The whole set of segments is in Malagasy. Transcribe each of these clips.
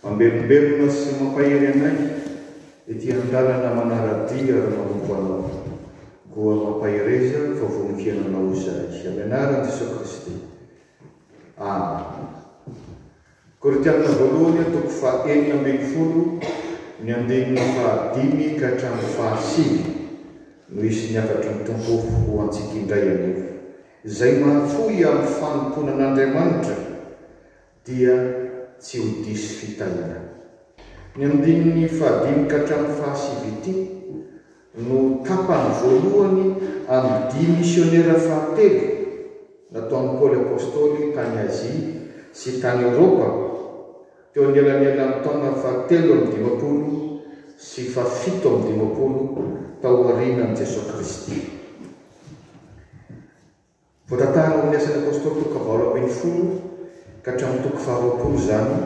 Mamelombelona sy mampahery anay ity andalana manara-dia ary manompo Anao. Koa mampahereza fa vonon kiananao izahay. Amianarany Jesoa Kristy. Amen. Korintianina Voalohany, toko faha enina ambin'ny folo, ny andininy faha dimy ka hatramin'ny faha sivy, no hisy ny hafatry ny Tompo ho antsika indray aloha. Izay mahafoy amin'ny fanompoana an'Andriamanitra dia tsy ho diso fitahiana. Ny andininy faha dimy ka hatramin'ny faha sivy ity no tapany voalohany amin'ny dia misionera fahatelo nataon'i Paoly Apostoly tany Azia sy tany Eoropa teo anelanelan'ny taona fahatelo amby dimampolo sy fahafito amby dimampolo taorianan'i Jesoa Kristy. Voatantara ao amin'ny Asan'ny Apôstôly toko valo ambin'ny folo ka hatramin'ny toko faharoapolo izany,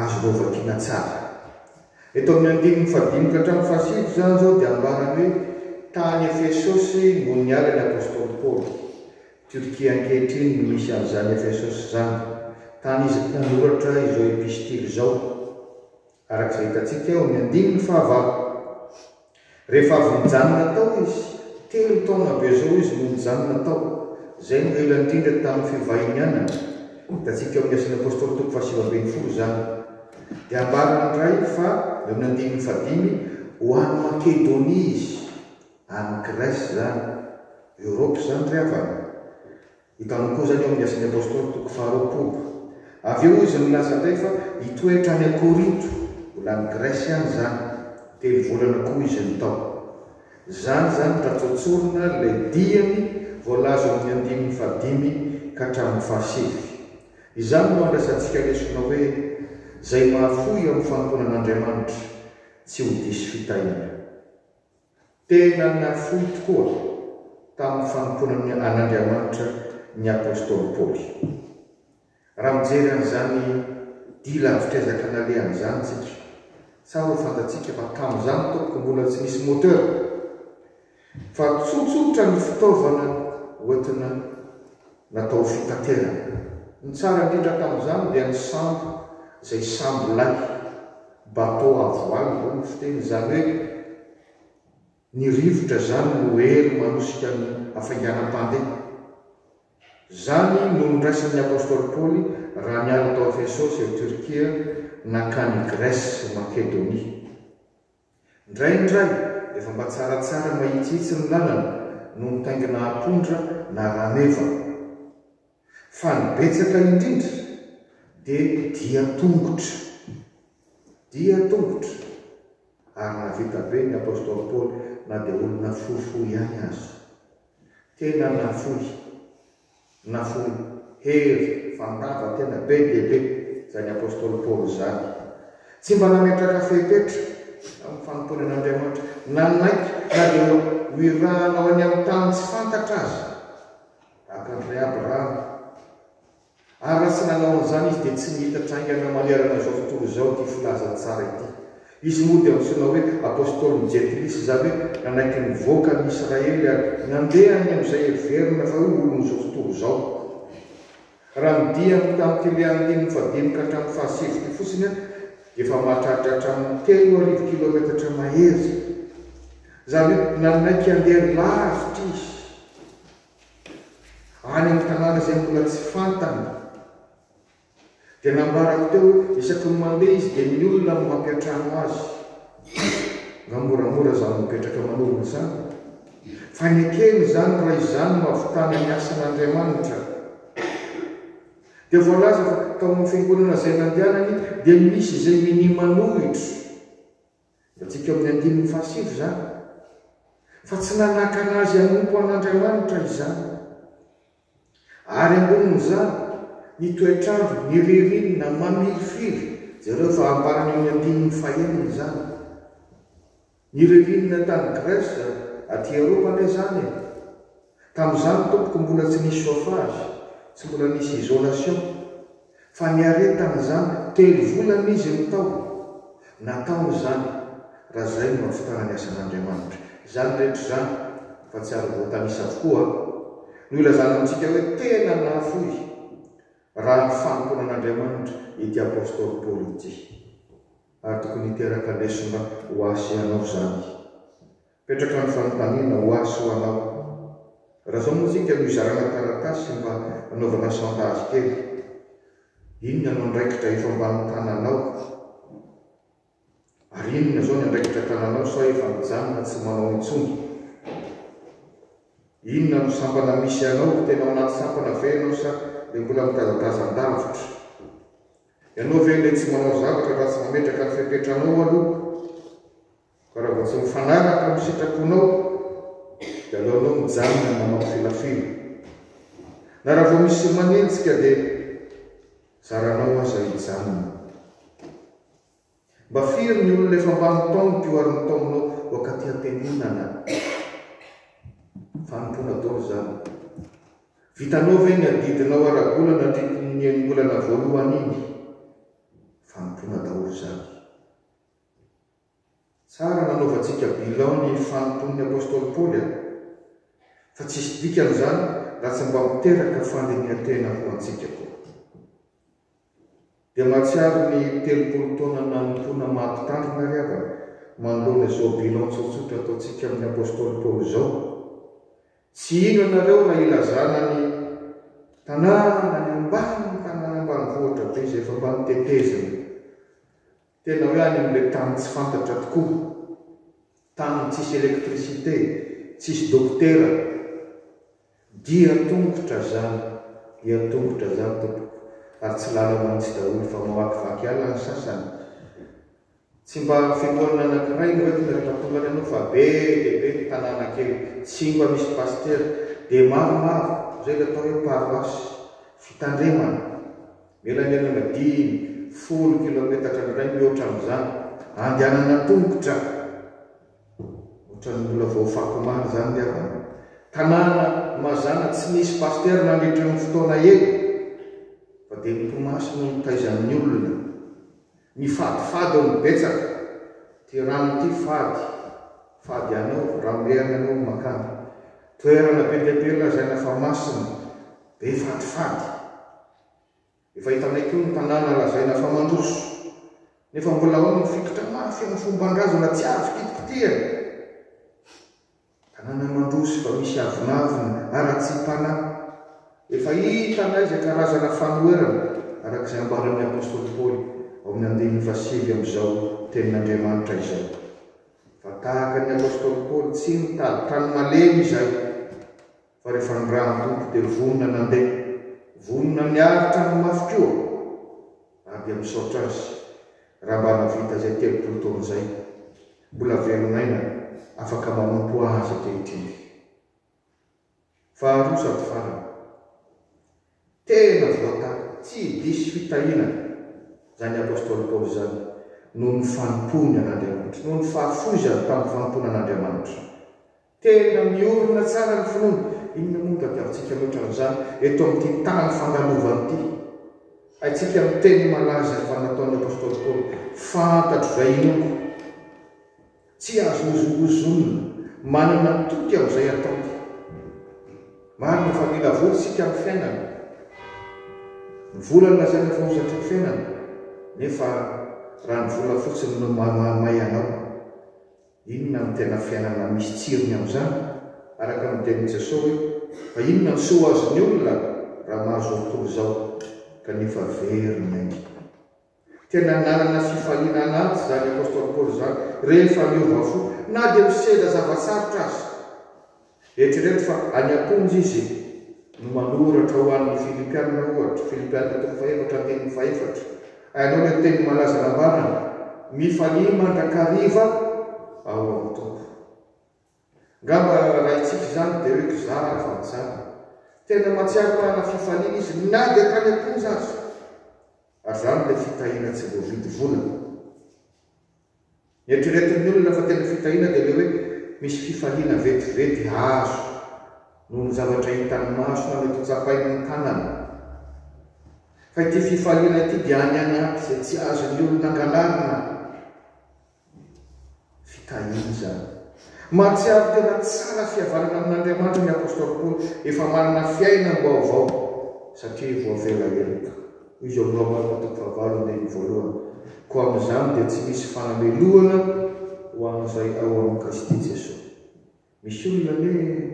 azonao vakiana tsara. Eto amin'ny andininy fahadimy ka hatramin'ny fahasivy izany izao dia ambarany hoe tany Efesosy no niala ny Apôstôly Paoly. Turquie ankehitriny no misy an'izany Efesosy izany, tany izy nanoratra izao epistily izao. Araka izay hitantsika eo amin'ny andininy fahavalo. Rehefa avy nijanona tao izy, telo taona avy eo izao izy no nijanona tao. Izay no ela indrindra tamin'ny fivahinianany. Hitantsika eo amin'ny Asan'ny Apôstôly toko fahasivy ambin'ny folo izany. Dia ambarany indray fa, eo amin'ny andininy fahadimy, ho any Makedonia izy. Any Grèce izany. Europe izany ry havana. Hitanao koa izany eo amin'ny Asan'ny Apostoly toko faharoapolo. Avy eo izy milaza indray fa hitoetra any Korinto, mbola any Grèce ihany izany. Telo volana koa izy no tao. Izany izany raha tsotsorina ilay diany voalaza eo amin'ny andininy fahadimy ka hatramin'ny fahasivy. Izany no andraisantsika lesona hoe, Izay mahafoy amin'ny fanompoana an'Andriamanitra, tsy ho diso fitahiana. Tena nafoy tokoa tamin'ny fanompoana an'Andriamanitra ny apostoly Paoly. Raha mijery an'izany dia lavitr'ezaka nalehany izany isika, tsara ho fantatsika fa tamin'izany tompoko mbola tsy nisy moteur, fa tsotsotra ny fitaovana hoentina Natao ho fitaterana. Ny tsara indrindra tamin'izany dia ny sambo, izay sambo lahy, bateau à voile hoy ny fiteny, izany hoe ny rivotra izany no hery manosika ny hafainganam-pandeha. Izany no niraisan'ny apostoly Paoly raha niala tao Efesosy, ao Turquie, nankany Grèce sy Makedonia. Indraindray, efa mba tsaratsara mahitsihitsy ny lalana no mitaingina apondra na rameva. Fa ny betsaka indrindra dia dian-tongotra. Dian-tongotra! Ary nahavita be ny apostoly Paoly na dia olona fohifohy ihany aza. Tena nafoy. Nafoy hery fandava tena be dia be izany apostoly Paoly izany. Tsy mba nametraka fepetra amin'ny fanompoany an'Andriamanitra. Nanaiky na dia ho irahana ho any amin'ny tany tsy fantatra aza, tahaka an'i Rehaby Rahama. Ary raha tsy nanao an'izany izy, dia tsy nihitatra haingana manerana izao tontolo izao ity filaza tsara ity. Izy moa dia antsoina hoe Apôstôlin'i Jentilisy, izany hoe nanaiky nivoaka an'i Israely ary nandeha any amin'izay heverina fa ho olon'izao tontolo izao. Raha ny dia avy tamin'ity andininy fahadimy ka hatramin'ny fahasivy ity fotsiny aho dia efa mahatratra hatramin'ny telo arivo kilaometatra mahery. Izany hoe nanaiky handeha lavitra izy, any amin'ny tanàna izay mbola tsy fantany. Dia nambarako teo hoe isaky ny mandeha izy dia ny olona no mampiantrano azy. Nga moramora izany mipetraka manorina izany? Fa ny ekeny izany raha izany no ahavitana ny asan'Andriamanitra. Dia voalaza fa tao amin'ny fiangonana izay nandehanany dia misy izay minia manohitra. Hitantsika eo amin'ny andininy fahasivy izany, fa tsy nanakana azy hanompo an'Andriamanitra izany. Ary ambonin'izany, ny toetr'andro, ny ririnina, mamirifiry, jereo fa ambarany eo amin'ny andininy fahenina izany. Ny ririnina tany Grèce, aty Eropa anie izany e! Tamin'izany tompoko mbola tsy nisy chauffage, tsy mbola nisy isolation, fa niaretana izany telo volana izy no tao, nataony izany, raha izay no ahavitana ny asan'Andriamanitra. Izany rehetra izany, fa tsy ary voatanisa avokoa, no ilazana amintsika hoe tena nahafoy raha ny fanompoana an'Andriamanitra ity Apostoly Paoly ity. Ary tokony hiteraka lesona ho ahy sy ianao izany. Petraka ny fanontaniana ho ahy sy ho anao. Raha izao moa isika no hizarana taratasy mba hanaovana chantage kely. Inona no andraikitra efa ambany tananao? Ary inona izao ny andraikitra tananao sa efa mijanona tsy manao intsony? Inona no sampana misy anao? Tena ao anaty sampana ve ianao sa dia mbola mitazatazan-davitra? Ianao ve ilay tsy manao zavatra raha tsy mametraka ny fepetranao aloha? Fa raha vao tsy mifanaraka amin'ny sitraponao, dia aleonao mijanona ny manao filafila. Na raha vao misy manenjika, dia zaranao aza hijanona. Mba firy ny olona efa mba nitaomiko io ary nitaominao wak'aty antenimana? Fanompoana daholo izany. Vitanao ve ny adidinao ara-bola nandritry ny enimbolana voalohany iny? Fanompoana daholo izany. Tsara nanaovantsika bilan ny fanompoan'ny apostoly Paoly an! Fa tsisy dikany izany raha tsy mba miteraka fandinihan-tena ho antsika koa. Dia mahatsiaro ny telopolo taona nanompoana maha mpitandrina ry havana manoloana izao bilan tsotsotra ataontsika amin'ny apostoly Paoly izao, Tsy hino ianareo raha ilazana ny tanàna any ambany tanàna ambanivohitra be izay efa mba notetezina. Tena hoe any amin'ilay tany tsy fantatra tokoa, tany tsisy électricité, tsisy dokotera. Dia tongotra zany, dia tongotra zany tompoko, ary tsy lalana mintsy daholo fa mamakivaky ala ny sasany. Tsy mba fiangonana anankiray no entina rehefa tonga any anao fa be dia be ny tanàna kely, tsy mba misy pasitera, dia maromaro izay ilay atao hoe paroasy, fitandremana, Mila ny anaovana dimy, folo kilaometatra indray mihoatra amin'izany. Andehanana an-tongotra. Ohatran'ny mbola vao fako omaly izany ny havana. Tanàna mazàna tsy nisy pasitera nandritra io fotoana io, fa dia ny Toamasy no nitaizan'ny olona. Ny fadifady no betsaka. Ity rano ity fady. Fady anao, ramorehana anao no makany. Toerana be dia be lazaina fa masina. Be fadifady. Efa hitanay koa ny tanàna lazaina fa mandroso, nefa mbola ao ny fikitra mafy amin'ny fomban-drazana tsy azo kitikitihana. Tanàna mandroso fa misy avonavona ara-tsiam-panahy. Efa hitanay izay karazana fanoherana, araka izay ambaran'ny apostoly Paoly ao amin'ny andininy fahasivy amin'izao Tenin'Andriamanitra izao. Fa tahaka ny apostoly Paoly, tsy mitady tany malemy izahay. Fa rehefa ny rà mitoto dia vonona ny handeha, vonona ny haharitra ny mafy koa, ary dia misaotra azy raha mba nahavita izay telopolo taona izay. Mbola velon'aina afaka manompo azy ankehitriny. Faharoa sady farany. Tena voatako tsy diso fitahianana izany apostoly Paoly izany noho ny fanompoany an'Andriamanitra, noho ny fahafoizany tamin'ny fanompoana an'Andriamanitra. Tena miorina tsara ny finoana. Inona moa no tadiavintsika mihoatra an'izany eto amin'ity tany fandalovana ity? Haintsika ny teny malaza efa nataon'ny apostoly Paoly, Fantatro izay inoako. Tsy azo ozongozonina. Manana toky amin'izay ataony. Marina fa mila vola isika amin'ny fiainana. Ny vola no lazaina fa hozatry ny fiainana, nefa raha ny vola fotsiny no mahamay anao, inona no tena fiainana misy tsirony amin'izany? Araka ny tenin'i Jesosy hoe, Fa inona no soa azon'ny olona raha mahazo ny tontolo izao, kanefa very ny ainy? Tena nanana fifaliana anaty izany apostoly Paoly izany, rehefa niova fo, na dia misedra zava-tsarotra aza. Eritrereto fa any am-ponja izy no manoratra ho an'ny Filipiana, ohatra, Filipiana toko fahefatra andininy fahefatra. Hainao ilay teny malaza nambarany, Mifalia mandrakariva ao amin'ny Tompo. Ngamba raintsika izany dia hoe kizara ny fanitsana. Tena mahatsiaro manana fifaliana izy na dia tany am-ponja aza. Ary izany ilay fitahiana tsy voavidy vola. Ny eritreretin'ny olona fa tena fitahiana dia ilay hoe misy fifaliana vetivety azo noho ny zavatra hitan'ny maso na mety ho tsapain'ny tanana. Fa ity fifaliana ity dia any anaty izay tsy azon'ny olona angalarina. Fitahiana izany. Mahatsiaro tena tsara fihavanana amin'Andriamanitra ny apostoly Paoly, efa manana fiainam-baovao satria voavela heloka. Hoy izy ao amin'ny Romanina toko fahavalo andininy voalohany, Koa amin'izany dia tsy misy fanamelohana ho an'izay ao amin'i Kristy Jesoa. Misy olona anie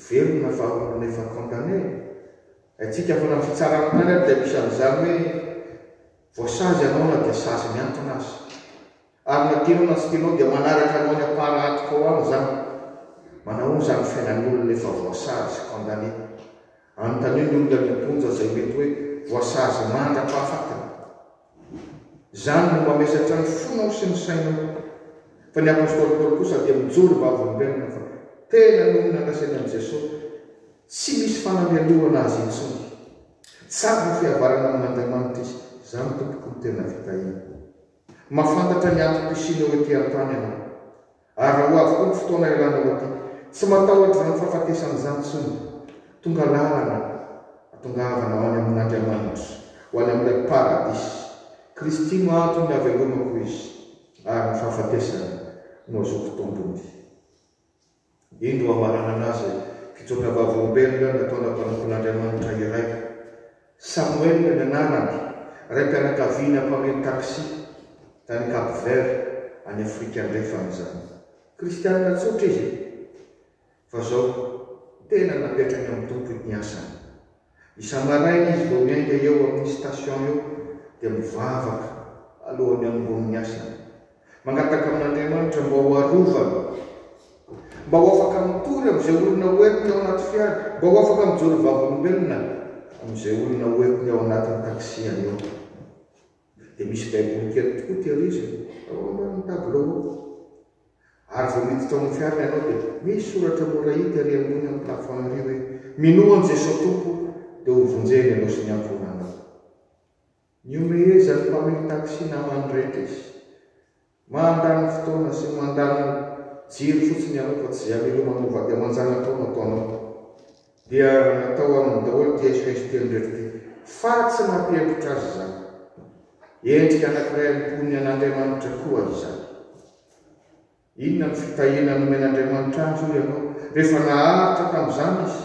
velona fa olona efa condamné e! Haintsika foana ny fitsarana tany ary dia misy an'izany hoe voasazy ianao na dia sazy miantona aza. Ary na tianao na tsy tianao dia manaraka anao any am-parahatoka ao any izany. Manahoana izany ny fiainan'ny olona efa voasazy, condamné? Anontanio ny olona any am-ponja izay mety hoe voasazy mandra-pahafatiny. Izany no mamesatra ny fonao sy ny sainao. Fa ny apostoly Paoly kosa dia mijoro vavolombelona fa tena noho ny nandresena an'i Jesoa, tsy misy fanameliorana azy intsony. Tsara fihavanana amin'Andriamanitra izy, izany tompoko no tena vitaina. Mahafantatra ny antom-pisianao ety an-tany ianao. Ary raha ho avy koa ny fotoana ialanao aty, tsy matahotra izany fahafatesana izany intsony. Tonga lalana hatongavana ho any amin'Andriamanitra, ho any amin'ilay paradisa. Kristy no antony havelomako, hoy izy, ary ny fahafatesana no hazoako tombony. Indro ho hamaranana azy, fitsoaka vavolombelona nataona mpanompon'Andriamanitra iray. Samuel ny anarany, raim-pianakaviana mpamily taxi, tany Cap Vert, any Afrika Andrefana izany. Kristianina tsotra izy, fa izao tena napetrany amin'ny Tompo ny asany. Isa-maraina izy vao miainga eo amin'ny station eo dia mivavaka alohan'ny hanomboany ny asany, Mangataka amin'Andriamanitra mba ho arovany, mba ho afaka mitory amin'izay olona hoentiny ao anaty fiara, mba ho afaka mijoro vavolombelona amin'izay olona hoentiny ao anatin'ny taxi-any eo. Dia misy baiboly kely tokoa tehiriziny ao ambanin'ny tableau ao. Ary vao miditra ao amin'ny fiarany ianao dia misy soratra mora hita ery ambony amin'ny plafond ery hoe, Minoa an'i Jesoa Tompo dia hovonjeny ianao sy ny ankohonanao. Nihomehezan'ny mpamily taxi namany rehetra izy. Mandany fotoana sy mandany jiro fotsiny ianao fa tsy jamais leo manao vady aman-janakao no ataonao. Dia natao aminy daholo ity SOS telo rehetra ity fa tsy nampihemotra azy izany. Endrika anankiray amin'ny mponiny an'Andriamanitra koa izany. Inona no fitahiana nomen'Andriamanitra azy hoy ianao rehefa naharitra tamin'izany izy?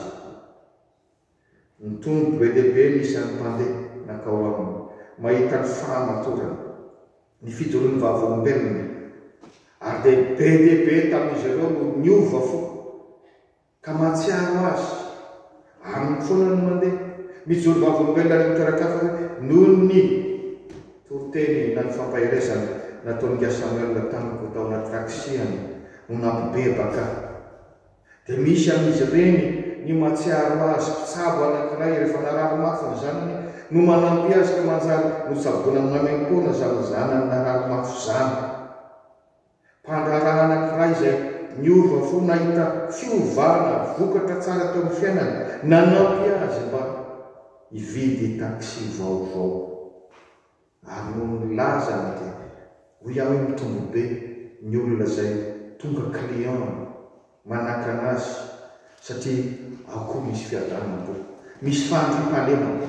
Nitombo be dia be ny isan'ny mpandeha nankao aminy mahita ny fahamatorana ny fijoroan'ny Vavolombelona, ary dia be dia be tamin'izy ireo no niova fo ka mahatsiaro azy aminy foana ny mandeha mijoro Vavolombelona any amin'ny toeran-kafa hoe noho ny toriteny na ny fampaherezana nataon'i Nga Samuel tamiko tao anaty taxi-any no nampibebaka dia misy amin'izy ireny ny mahatsiaro azy mpitsabo anankiray rehefa narary mafy ny zanany no manampy azy ka manjary notsaboina maimaim-poana izany zanany narary mafy izany. Mpandraharaha anankiray izay niova fo nahita fiovana vokatra tsara teo amin'ny fiainany nanampy azy mba hividy taxi vaovao. Ary noho ny milaza ny aty, hoy aho hoe mitombo be ny olona izay tonga client manakana azy satria ao koa misy fiadanana koa. Misy fandriampahalemana.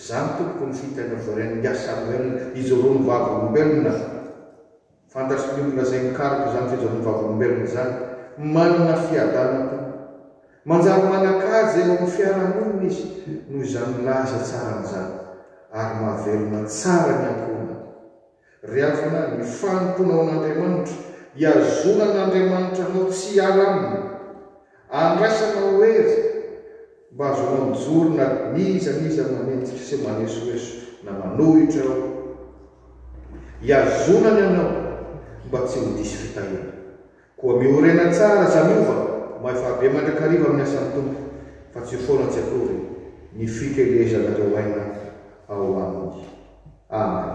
Zany tompoko ny fiteny of the Rain Yah Samuel, izy roa no vavolombelona. Fantatry ny olona izay mikaroka izany fijanon'ny vavolombelona izany. Manana fiadanam-po. Manjary manan-kaja eo amin'ny fiarahamonina izy noho izany milaza tsara an'izany, ary mahavelona tsara ny ankohonany. Ry havana, ny fanompoanao an'Andriamanitra, ihazonan'Andriamanitra anao tsy hiala aminy. Andrasana ho hery mba hahazoanao mijoro na n'iza n'iza manenjika sy manesoeso na manohitra ao. Ihazona ny anao mba tsy ho diso fitahiana. Koa miorena tsara Zamiova mahay fahabe mandrakariva amin'ny asan'ny Tompo fa tsy io foana tsy akory ny fikelezan'ireo aina ao aminy. Amen.